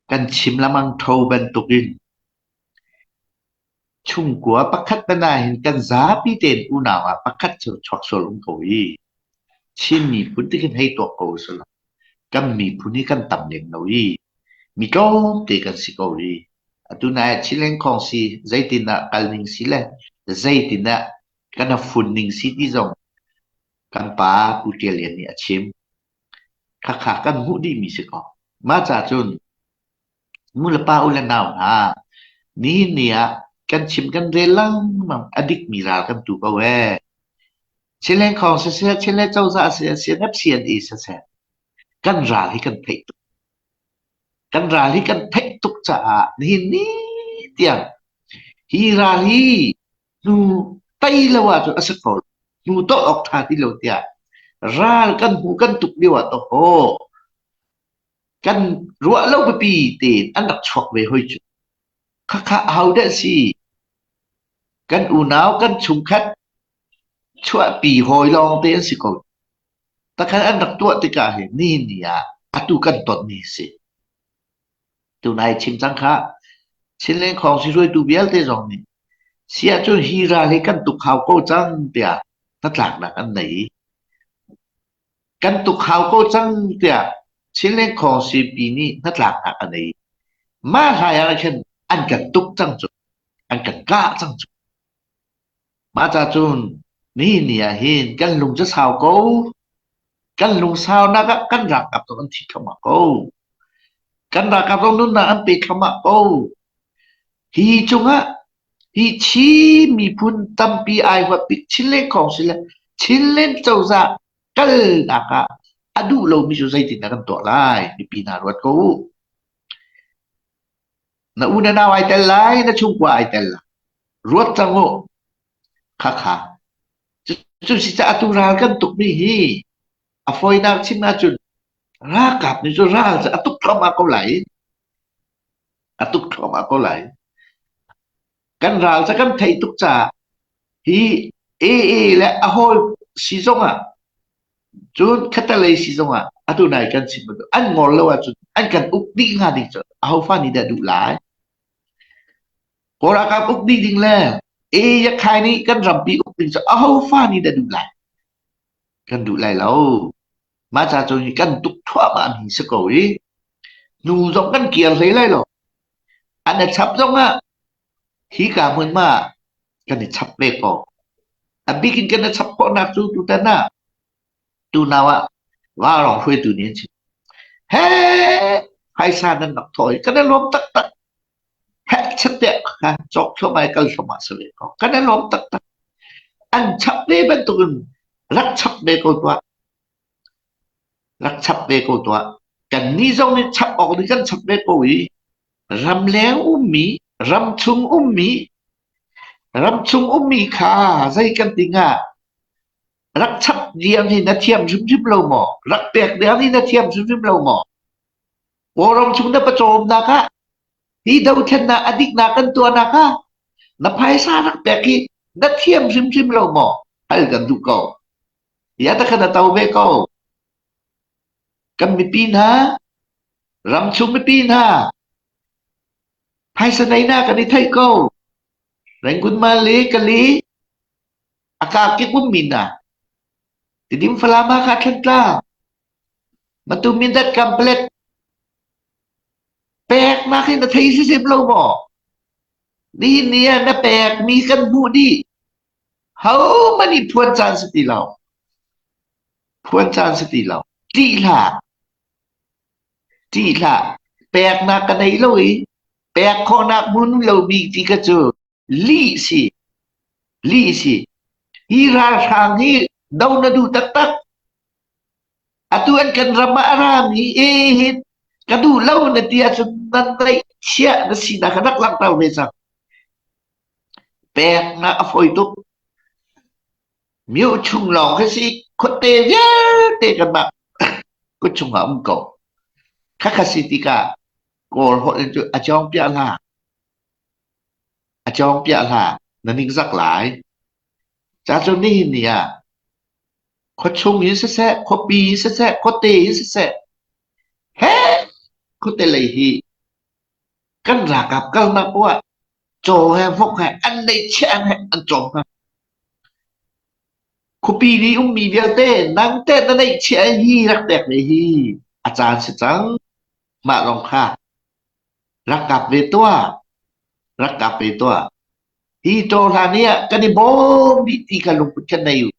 Kan chim lengmang tho bantukin chungkua pakhat te nain kan zapi tein unau ah pakhat cu chuak sual um ko i Chin miphun ti khin hei tuak ko sih law kan miphun hi kan tam lem lo i mi tlawmte kan si ko i atu nai ah Chin lengkhawng si zeitindah kal ning si le zeitindah kan rak fun ning si ti zong kan pa Pu Ṭial Lian nih a chim. Hakha kan hmuh dihmi si kaw mah cacun nu le pa, u le nau hna nihin ni ah kan chim kan rel lengmang a dikmi ral kan tu ko ee. Chilengkhawng siseh, Chile cozah siseh, NFCNE siseh kan ral hi kan theih tuk. Kan ral hi kan theih tuk caah nihin ni tiang hi ral hi hnu tei lo ahcun a si ko. Hnu tawlh awk ṭha ti lo tiah ral kan hmuh kan tuk lio ah tohaw kan ruah lo pipi tein an rak chuak ve hoi cu. Khakha hau deh si. Kan unau, kan chungkhat chuahpi hawi lawng te an si ko. Takhan an rak tuah tikah hi ni ni ah atu kan ton ni si. Tunai chim cang khah! Chinleng khawngsi hruaitu vialte zong nih si ahcun hi ral hi kan tuk hau ko cang tiah hnatlaknak an nei i kan tuk hau ko cang tiah Chinleng khawngsipi nih hnatlaknak a nei. Mah hlai ah khin an kan tuk cang cu, an kan kah cang cu. Mahca cun mi ni ahhin kan lung cu sau ko. Kan lungsaunak ah kan ralkap zong an thi thluahmah ko. Kan ralkap zong nunnak an pe thluahmah ko. Hi cungah hi Chin miphun tampi ai huat bik Chinland khawng si le Chinland cozah kalnak ah a duh lomi cu zeitin dah kan tuah lai? Mipi hna ruat ko u. Na unau ai tel lai, na chungkua ai tel lai. Ruat cang u. Khakha. Cu si caah tu ral kan tukmi hi a foinak chim ahcun ralkap nih cu ral cu a tuk thluahmah ko lai. A tuk thluahmah ko lai. kan ral cu kan theih tuk caah hi AA le a hawl si zongah cun khatalei si zongah atu nai kan chim bantuk an ngol lo ahcun an kan uk dih hnga ding cu ahofa nih dah duh lai kawl ralkap uk dih ding le A Yakkai nih kan rampi uk ding cu ahofa nih dah duh lai kan duh lai lo Mah ca cu hi kan tuk thluahmahmi si ko i nu zong kan kir hlei lai lo. An i chap zong ah hika hmun ma kan i chap ve ko. A bik in kan i chap khawhnak cu tutan ah tunau ah ralrawng hruaitu nih an chim. Hei! Phaisa nan rak thawh hi kan i lawm taktak. Hekchepte kha cawk thluam ai kal thluam ah a si ve ko. Kan i lawm taktak. An chap ve bantukin rak chap ve ko tuah. Rak chap ve ko tuah. Kan ni zong nih chap awk nih kan chap ve ko i ramleng ummi, ramchung ummi, ramchung ummi kha zei kan ti hnga rak chap diang hi na thiam hrimhrim lo maw? Rak pek diang hi na thiam hrimhrim lo maw? Kawlram chung na pawcawmnak ah hi dothlennak a diknak kan tuahnak ah na phaisa rak pek hi na thiam hrimhrim lo maw hal kan duh ko ya ta kha na to ve ko kan mipi hna ramchung mipi hna phaisa neina kan i theih ko Rengkun Mali Kali A kakik um min ah tidim Falam Hakha Thlantlang Matum Mindat Complex pek na khi na thei si sip lo maw nihin ni ah na pek mi kan hmuh dih ho mani phuan caan si ti lo phuan caan si ti lo tih hlah tih hlah pek na ka nei lo i pek khawhnak hmun lo mi ti ka cu Lihsi, lihsi, hi ralhrang hi do na duh taktak. Atu an kan ram ah a rami e hi ka duh lo na ti ahcun nan naih chiah na si na ka rak langhter ve cang. Peknak a fawi tuk. Mio chung lawng khi si khuate vialte kanmah kuchung ah um ko. Khakha si tika kawl holh in cu a cawng piah la. A cawng piah hlah, na ningzak lai. Cacun nihin ni ah khuachung in siseh, khuapi in siseh, khuate in siseh, heh! khuate lei hi kan ralkap kalnak poah caw he vok he an lei chiang he an cawm hna. Khuapi nih ummi vialte nangte na neih chiah hi rak tek ve hi a caan si cang. Mah lawng kha rak kap ve tuah, rak kap ve tuah. Hi ṭaw hlan i ah kan i bawm dih ti ka lungput kha nei u.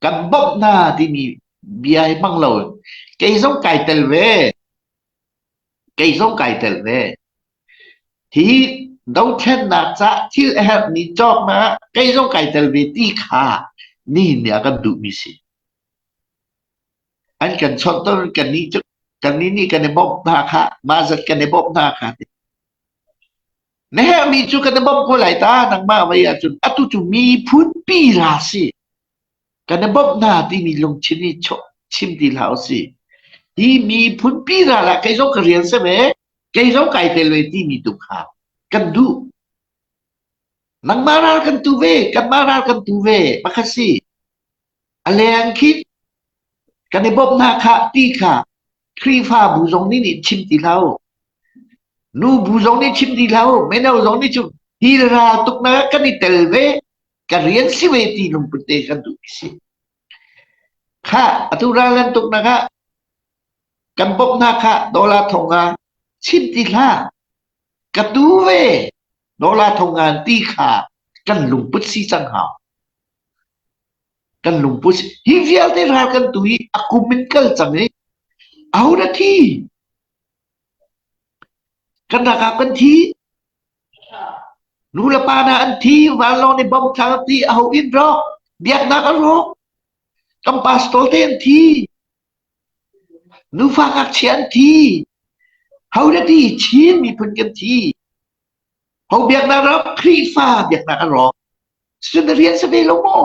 Kan bawmh hna timi bia hi hmang lo. Kei zong kai tel ve. Kei zong kai tel ve. Hi dothlennak cah thil a herh ni cawknak ah kei zong kai tel ve ti kha nihin ni ah kan duhmi si. an kan chawhtor kannih nih kan i bawmh hna kha mah zat kan i bawmh hna kha ti. Na herhmi cu kan i bawmh ko lai ta nangmah vei ahcun atu cu miphun pi hla si kan i bawmh hna timi lungthin i chim ti hlah u si hi miphun pi hna lah kei zong ka rian se ve kei zong kai tel ve timi tu kha kan duh nangmah ral kan tu ve kanmah ral kan tu ve pakhat si A leng khinh kan i bawmh hna khah ti kha Khrihfabu zong nih nih chim ti lo. Nu bu zong nih chim ti lo. Mino zong nih cu hilra tuk na kan i tel ve. Ka rian si ve ti lungput te kan duh si. Kha atu ralan tuk na kha kan bawmh hna kha dollar thong ah chim ti hla ka tu ve Dola Tho Ngan ti kha kan lungput si cang hna. Kan lungput si. Hi vialte ral kan tu i a kum in kal cang i aho na thi? Kan rakap kan thi. Nu le pa na an thi, vanlawng nih bom tlang ti aho in rawk, biaknak a rawk. Kan pastor te an thi. Nufa ngakchia an thi, ho na ti Chin miphun kan thi, ho biaknak ram Khrihfa biaknak a rawk, cucun na rian si ve lo maw?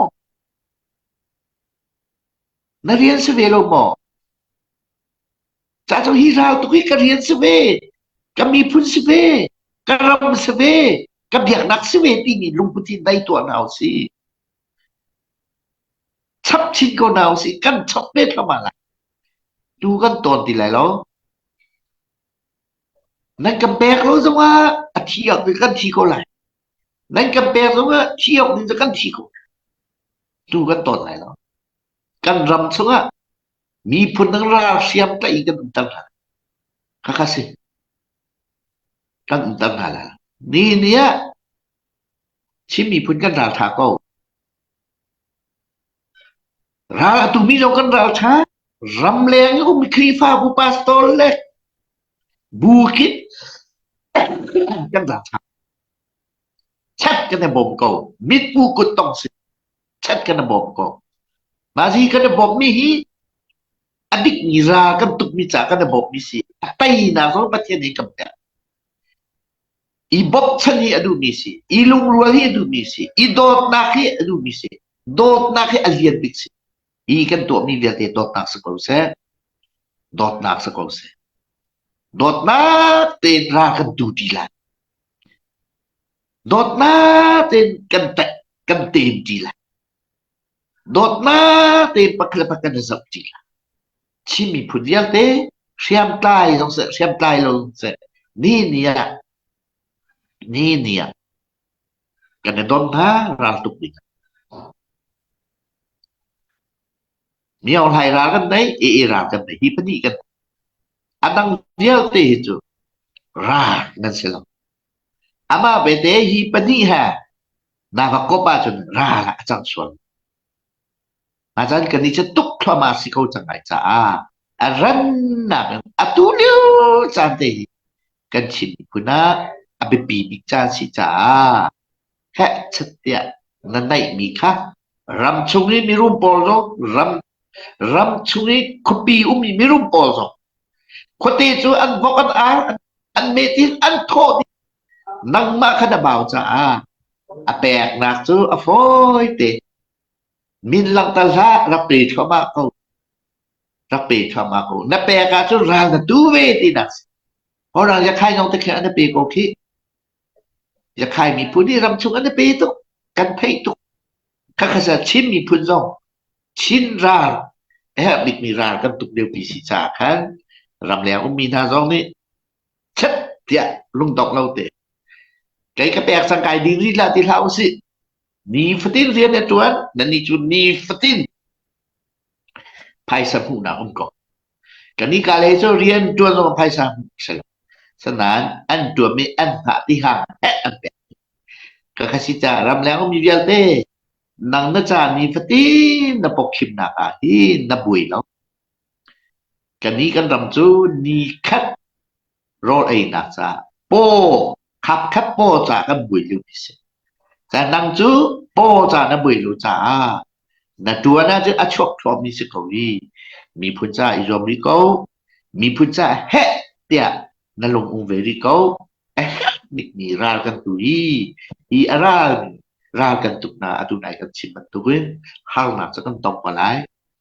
Na rian si ve lo maw? Ca cu hi rau tuk hi ka rian si ve, ka miphun si ve, ka ram si ve, ka biaknak si ve timi lungput hi dai tuah hna u si. Chap chin ko hna usih, kan chap ve thluahmah lai. Tu kan tawn ti lai lo. Nan kan pek lo zongah a thi awk in kan thi ko lai. Nan kan pek zongah thi awk in kan thi ko. Tu kan tawn lai lo. Kan ram chungah miphun dang ralhriam tlaih kan umter hna. Khakha si. Kan umter hna lai. Ni ni ah Chin miphun kan ral ṭha ko. Ral a tumi zong kan ral ṭha. Ram leng i um i Khrihfabu pastor le bu kip kan ral ṭha. Chat kan i bawm ko. Mitmu kut tong si. Chat kan i bawm ko. Nazi kan i bawmmi hi a dikmi ra kan tukmi ca kan i bawmmi si. A teinak zong Pathian hi kan pek. I bochan hi a duhmi si, i lungrual hi a duhmi si, i dawtnak hi a duhmi si, dawtnak hi a lian bik si. Hi kan tuahmi vialte dawtnak si ko seh. Dawtnak si ko seh. Dawtnak tein ra kan du ti lai. Dawtnak tein kan te, kan ten ti lai. Dawtnak tein pakhat le pakhat na zoh ṭi hlah. Chin miphun vialte hriamtlai zong seh, hriamtlai lo zong seh, ni ni ah, ni ni ah kan i don hna raltuk ding ah. Miohlai ral kan nei, ii ral kan nei, hi pahnih kan. A dang vialte hi cu ral nan si lo. Amah belte hi pahnih he na va komh ahcun ral ah a cang sual. Ahcun kannih cu tuk thluahmah a si ko cang lai caah a rannak in atu lio caan te hi kan Chin miphun ah a biapi bik caan a si caah Fekchep tiah na naihmi kha ram chung i mirum pawl zong ram ram chung i khuapi ummi mirum pawl zong khuate cu an vok an ar an, an met in an thawh dih nangmah kha na bau caah a peknak cu a fawite min langhter hlah rak pe thluahmah ko rak pe thluahmah ko na pek ah cun ral na tu ve tinak si horang ya khai ngong te khe na pe ko khi Yakhay miphun hi ramchung an i pe tuk. Kan theih tuk. Khakhasa Chin miphun zong Chin ral a herh bikmi ral kan tuk liopi si caah khan ramleng ummi hna zong nih chep tiah lungdongh lo te kei ka pek sang kai ding rih la ti hlah usih. Nifatin rian na tuan, nannih cu nifatin phaisa hmuhnak um ko. Kanika lei cu rian ṭuan zong a phaisa hmu si lo. Sanain an ṭuan i an hngah ti hang heh an pek. Ka kha si caah ramleng ummi vialte nang na caan i fatin na pokkhimnak ah hi na buai lo. Kani kan ram cu ni khat rawl einak caah paw khapkhat paw ca kan bui lu mi si. Ca nang cu paw ca na bui lu caah na tuan ah cun a chuak thuam mi si ko i miphun caah i zuam rih ko miphun caah heh tiah na lung um ve rih ko eh nik mi ral kan tu hi hi a ral ral kan tuk na atu nai kan chim bantukin harnak cu kan tong ko lai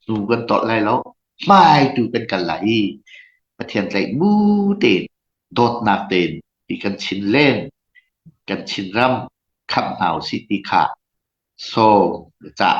Cu kan tawlh lai lo. Hmaitu kan kal lai i Pathian tlaihmu tein, dawtnak tein ti kan chin len, kan chinram khamh hna u sih ti kha sawm ka cah.